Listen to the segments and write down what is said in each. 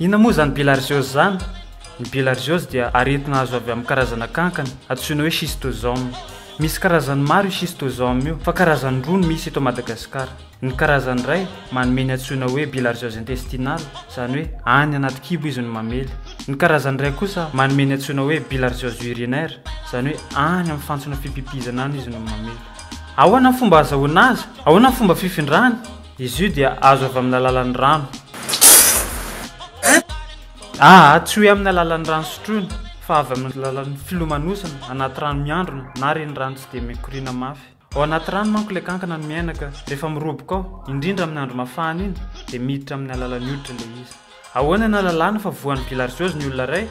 Inona moa izany bilharziose izany? Ny bilharziose dia aretina azo avy amin'ny karazana kankana antsoina hoe schistosome. Misy karazany maro io schistosome io fa karazany roa no misy eto Madagasikara. Ny karazany iray manome ny antsoina hoe bilharziose intestinale, izany hoe any anaty kibo izy no mamely. Ny karazany iray kosa manome ny antsoina hoe bilharziose urinaire, izany hoe any amin'ny fantsona fipipizana any izy no mamely. Ahoana ny fomba ahazahoana azy? Ahoana ny fomba fifindrany? Izy io dia azo avy amin'ny alalan'ny rano. A, Tsy hoe amin'ny alalan'ny rano sotroina, fa avy amin'ny alalan'ny filomanosana anaty rano miandrona na renirano tsy dia mikoriana mafy. Ao anaty rano manko ilay kankana no miaina ka rehefa miroboka ao, indrindra amin'ny andro mafana iny, dia miditra amin'ny alalan'ny hoditra ilay izy. Ahoana no ahalalana fa voan'ny bilharziose ny olona iray?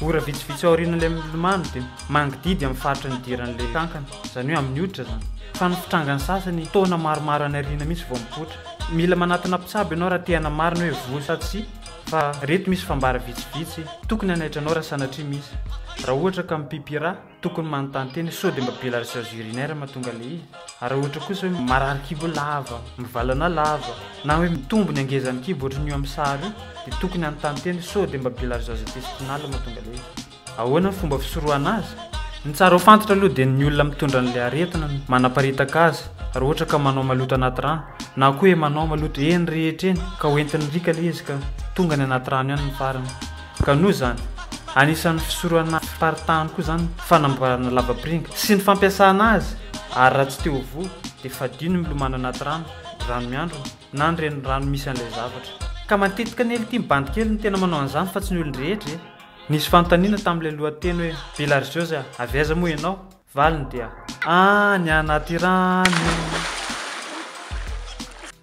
Ora vitsivitsy aorian'ilay milomano dia mangidihidy amin'ny faritry ny diran'ilay kankana, izany hoe amin'ny hoditra izany. Fa ny fitrangany sasany taona maromaro any aoriana mihitsy vao mipoitra. Mila manatona mpitsabo ianao raha te hanamarina hoe voa sa tsia, fa ireto misy fambara vitsivitsy tokony hanaitra anao raha sanatria misy. Raha ohatra ka mipipira. Tokony manontany tena sao dia mba be la recherche urinaire mahatonga le izy. Ary raha ohatra kosa hoe marary kibo lava, mivalana lava, na hoe mitombo ny hangezan'ny kibo ohatran'ny io amin'ny sary io dia tokony hanontany tena sao dia mba be la recherche intestinale mahatonga le izy. Ahoana ny fomba fisorohana azy? Ny tsara ho fantatra aloha dia ny olona mitondra an'ilay aretina no manaparitaka azy raha ohatra ka manao maloto anaty rano na koa hoe manao maloto eny rehetra eny ka ho entin'ny riaka le izy ka tonga any anaty rano ihany ny farany. Ka noho izany, anisan'ny fisoronana fiparitahany koa izany ny fanamboarana lavapiringa sy ny fampiasana azy ary raha tsy te ho voa dia fadio ny milomano anaty rano, rano miandrona na ny renirano misy an'ilay zavatra. Ka matetika ny elitim bandy kely no tena manao an'izany fa tsy ny olon-drehetra e! Nisy fanontaniana tamin'ilay lohateny hoe Bilharzios a, avy aiza moa ianao? Valiny dia. Any anaty rano.